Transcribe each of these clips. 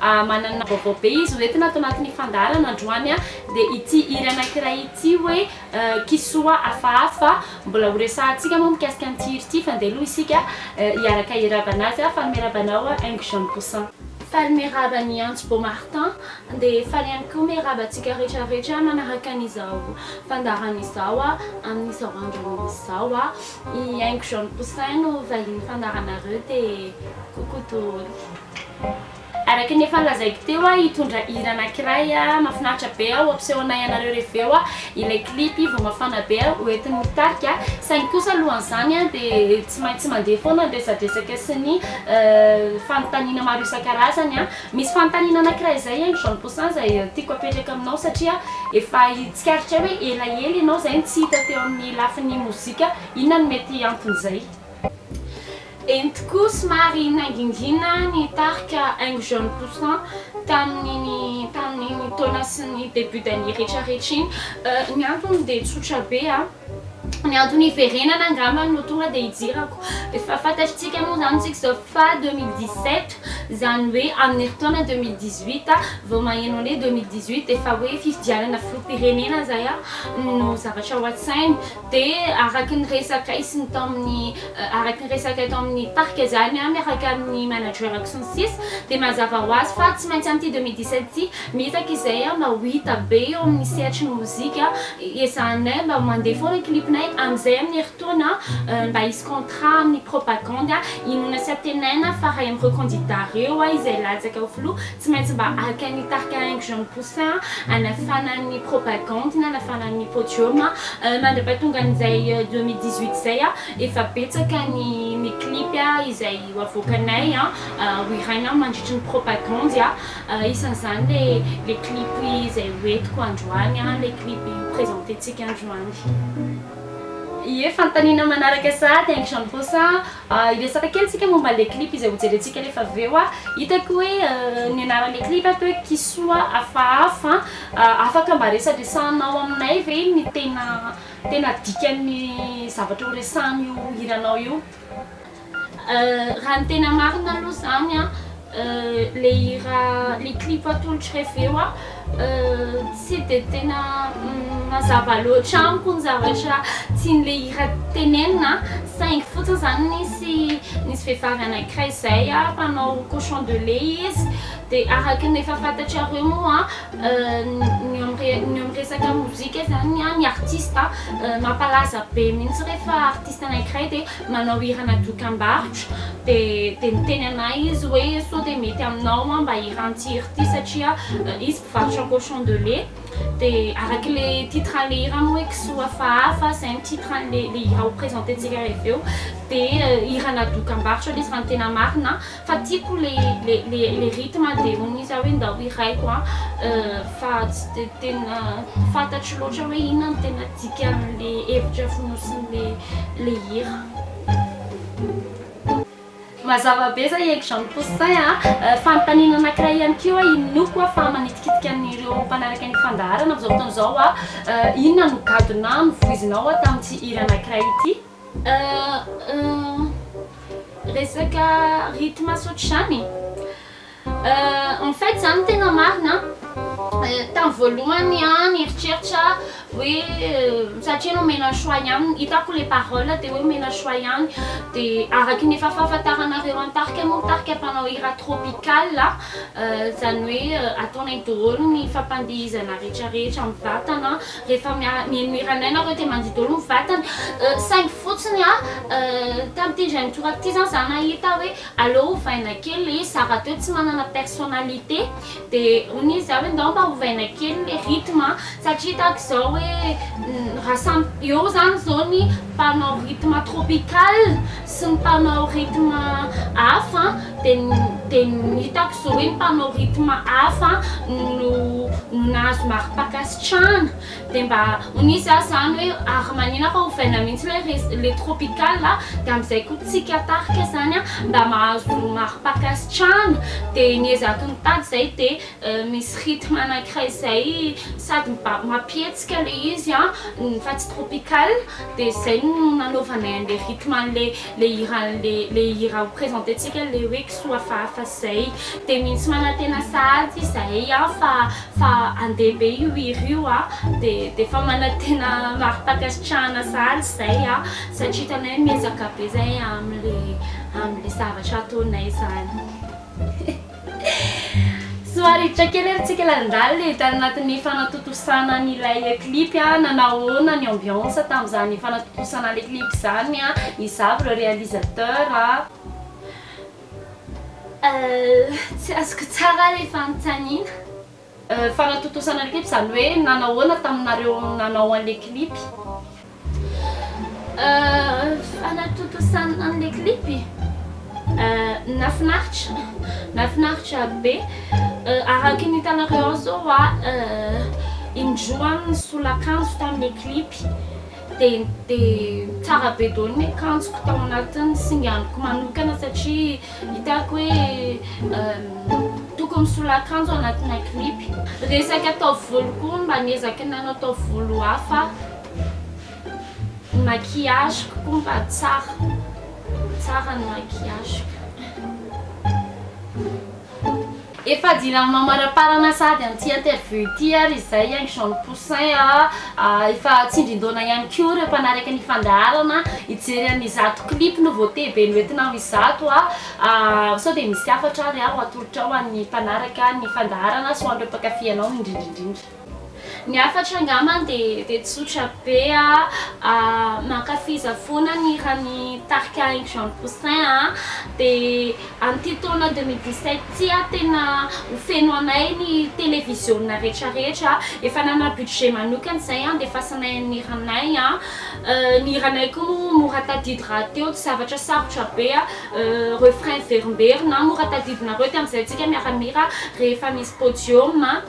Manana vaovao be izy hoentina ato anatin'ny fandaharana androany dia ity hira anankiray ity hoe Kisoa hafahafa. Mbola ho resahantsika moa mikasika an'ity hira ity fa ndeha aloha isika hiaraka hirava anazy. Fanome raba anao Ingo Jean Poussin. Fanome raba an'i Antso Beau Martin dia faly ihany koa miha raba antsika rehetra rehetra manaraka an'izao fandaharana izao amin'izao andro izao. I Ingo Jean Poussin no vahinin'ny fandaharanareo dia coucou dôly. Araka ny efa lazaiko teo aho hitondra hira anakiray mafinaritra be aho ampisehoanay anareo reveo aho ilay clip vao mafana be aho hoentin'ny mitarika saingy kosa alohan'izany aho dia tsy maintsy mandeha foana ny resadresaka sy ny fanontaniana maro isan-karazany aho misy fanontaniana anakiray izay aingry jean poussin izay tiako apetraka aminao satria efa hitsikaritra hoe elaela ianao izay no tsy hita teo amin'ny lafiny mozika inona no mety anton'izay Eny tokoa, somary nangingina ny tarika Aingo Jaune Poussant tamin'iny tamin'iny taona sy ny début d'année retraretra iny. Ny antony dia tsotra be a! Ny antony hiverenana angamba no tonga dia ijirako. Efa fantatritsika moa izany isika izao fa deux mille dix sept, izany hoe amin'ny herintaona deux mille dix huit vao maheno an'le deux mille dix huit efa hoe fifidianana filoham-pirenena izay no zavatra ao an-tsainy. Dia araka ny resakay sy ny tao amin'ny araka ny resakay tao amin'ny parc izany miaraka amin'ny managerako sy ny sisa dia mazava ho azy fa tsy maintsy amin'ity deux mille dix sept ity mitaky izay mba ho hita be eo amin'ny sehatry ny mozika ezahanay mba mandeha foana clipnay amin'izay amin'ny herintaona mba hisy contrat amin'ny propagandy inoana sy antenaina fa ray amin'ireo candidats ireo izay latsaka ho filoha Tsy maintsy mba haka ny tarika Aingo Jean Mposa hanafana ny propagande na hanafana ny podium. Mandrapatongan'izay deux mille dix huit izay efa betsaka ny ny clip izay ho avoakanay hohiraina mandritry ny propagandy. Isan'izany ilay ilay clip izay hoentiko androany, ilay clip ho presententsika androany. Ie, fanontaniana manaraka sahady Aingo Jean Mposa. Hiresaka kely tsika momba le clip izay hojerentsika nefa avy eo an! Hitako hoe ny anaran'le clip ato hoe kisoa hafahafa an! Afaka mba resadresahanao aminay ve ny tena tena dikan'ny zavatra horesahan'io hiranao io? Raha ny tena marina aloha izany an! Le hira, le clip atolotry reveo a tsy de tena mazava loatra amiko ny zavatra tian'le hira tenenina saingy fotsiny zany nisy nisy vehivavy anankiray zay a mpanao cochon de lait izy de araka ny efa fantatrareo moa ny eo amin'ny ny eo amin'ny resaka mozika zany ny artista mampalaza be mihitsy rehefa artista anankiray de manao hirana dokambarotra dia niteny anay izy hoe sao dia mety aminao aho mba hiran tsiry ity satria izy mpivarotra cochon de lait dia araky le titre an'le hira moa hoe kisoa hafahafa zay ny titre an'le hira ho presenter-tsika avy eo dia hirana dokambarotra le izy raha ny tena marina Fa tiako le le le le rythme de hono izy ah hoe ndao hiraiko ah fa tsy de tena fantatro loatra hoe inona no tena dikan'le hevitra fonosin'le le hira. Mazava be zay Aigle Jean Poussin a! Fanontaniana anankiray ihany koa inoako ah fa manitikitika an'ireo mpanaraka ny fandaharana amin'izao fotoana izao ah, inona no gadona novoizinao ah tamin'ity hira anankiray ity? Resaka rythme tsy ohatr'izany e! en fait zany ny tena marina tamin'ny voalohany aho nieritreritra hoe satria nomena choix ihany hitako ilay parole dia hoe omena choix ihany dia araka ny efa fahafantaranareo an'i tarika moa tarika mpanao hira tropical izany hoe ataonay daholo ny fampandihizana rehetra rehetra amin'ny vatana Rehefa mihaino hira anay nareo dia mandio daholo ny vatana, saingy fotsiny tamin'ity indray mitoraka ity zany za nahita hoe aleo ovaina kely le izy, za rahateo tsy manana personnalité dia hono izy za hoe ndao mba ovaina kely le rythme satria tahaka izao hoe raha samy eo zany zao ny mpanao rythme tropical, sy ny mpanao rythme hafa dia dia hitako izao hoe ny mpanao rythme hafa no no nahazo mari-pankasitrahana dia mba hono izy ah izany hoe ary manina fa ovaina mihitsy ilay res ilay tropical ah dia amin'izay koa tsika tarika izany ah mba mahazo mari-pankasitrahana dia niezako nitady izay dia Misy rythme anankiray izay sady mampihetsika ilay izy ny Fats Tropical dia izay no nanaovanay an'ilay rythme an'ilay hiran'ilay hira ho presententsika ilay hoe kisoa hafahafa izay. Dia misy manantena sahady izahay fa fa handeha be io hira io dia dia efa manantena mari-pankasitrahana sahady izay satria hitanay miezaka be izahay amin'ilay amin'ilay zavatra ataonay izany. Somary hiditra kely ary tsika lalindaly tany anatin'ny fanatontosana an'ilay clip a, nanao ahoana ny ambiance tamin'izany fanatontosana an'ilay clip izany a, iza avy ireo réalisateur a? Euh, tsy azoko tsara ilay fanontaniana. Fanatontosana ny clip zany hoe nanahoana taminareo nanao anle clip? Fanatontosana anle clip? Nafinaritra, nafinaritra be, araky ny hitanareo ao zao indroany ny solakanjo taminle clip. Dia dia tsara be daholo ny akanjoko tao anatin'ny singaniko manokana satria hitako hoe tokony misolo akanjo anatina clip. Resaka taovolo koa mba niezaky ny nanao taovolo hafa aho. Ny maquillage-ko koa mba tsara, tsara ny maquillage-ko. Efa jirany mamaraparana sahady amin'ity interview ity ary izay Aingo Jean Ny Poussin a, efa tsindrin-daona ihany koa ireo mpanaraka ny fandaharana hijery an' izato clip no voatey be noentinao izato a, sao dia misy hafatra ary aho atolotra ho an'ny mpanaraka ny fandaharana sy ho an'ireo mpankafy anao indrindra indrindra. Ny hafatra angambany dia dia tsotra be a, mankafiza foana ny hiran'ny tarika Henky Jean de Poussin a, dia amin'ity taona deux mille dix sept ity a tena ho feno anay ny televiziona rehetra rehetra, efa nanana budget manokana izay handefasanay ny hiranay a, ny hiranay koa moa mora tadidy rahateo tsy zavatra sarotra be a, refrain very mberina, mora tadidinareo ity amin'izay antsika miara-mihira rehefa misy podium a.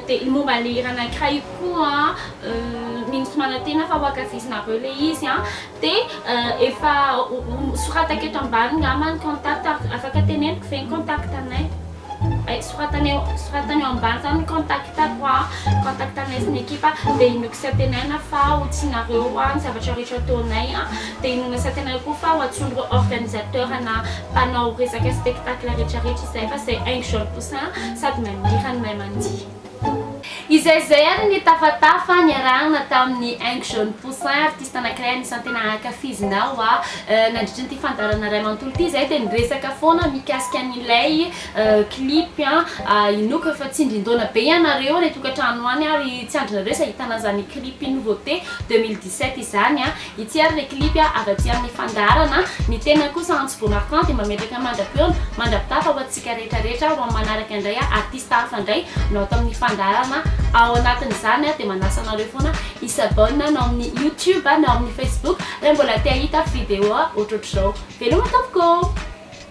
Dia ny momba ilay hira anankiray koa Mino sy manantena fa ho ankafizinareo ilay izy an! Dia efa soratako eto ambany angamba ny contact ary afaka teneniko ve ny contact anay? Hay, soratana eo, soratana eo ambany izany ny contact-ko an! Contact anay sy ny ekipa dia inoako sy antenaina fa ho tianareo ny zavatra rehetra ataonay an! Dia inoana sy antenaina koa fa ho antsoin'ireo organisateur-na mpanao resaka spectacle rehetra rehetra izay fa izay haingo jaune sady manirany mahay mandihy. Izay izay ary ny tafatafa niarahana tamin'i Ing Jaune Poussin, artista anankiray anisan'ny tena ankafizinao aho. Nandritra an'ity fandaharana iray manontolo ity izahay dia niresaka foana mikasika an'ilay clip inoako efa tsindrin-daona be ianareo any an-tokantrano any ary tsy andrinareo izay hitana an'izany clip nouveauté deux mille dix-sept izany. Ity ary le clip a, avy aty amin'ny fandaharana a. Ny tenany kosa Antso Beau Martin dia mametraka mandra-peona, mandra-pitafa ho antsika rehetra rehetra ho amin'ny manaraka indray a, artista hafa indray no ato amin'ny fandaharana ao anatin'izany a, dia manasa anareo foana hi-s'abonne na ao amin'ny youtube na ao amin'ny facebook raha mbola te hahita video ohatrohatr'izao. Veloma tompoko ô!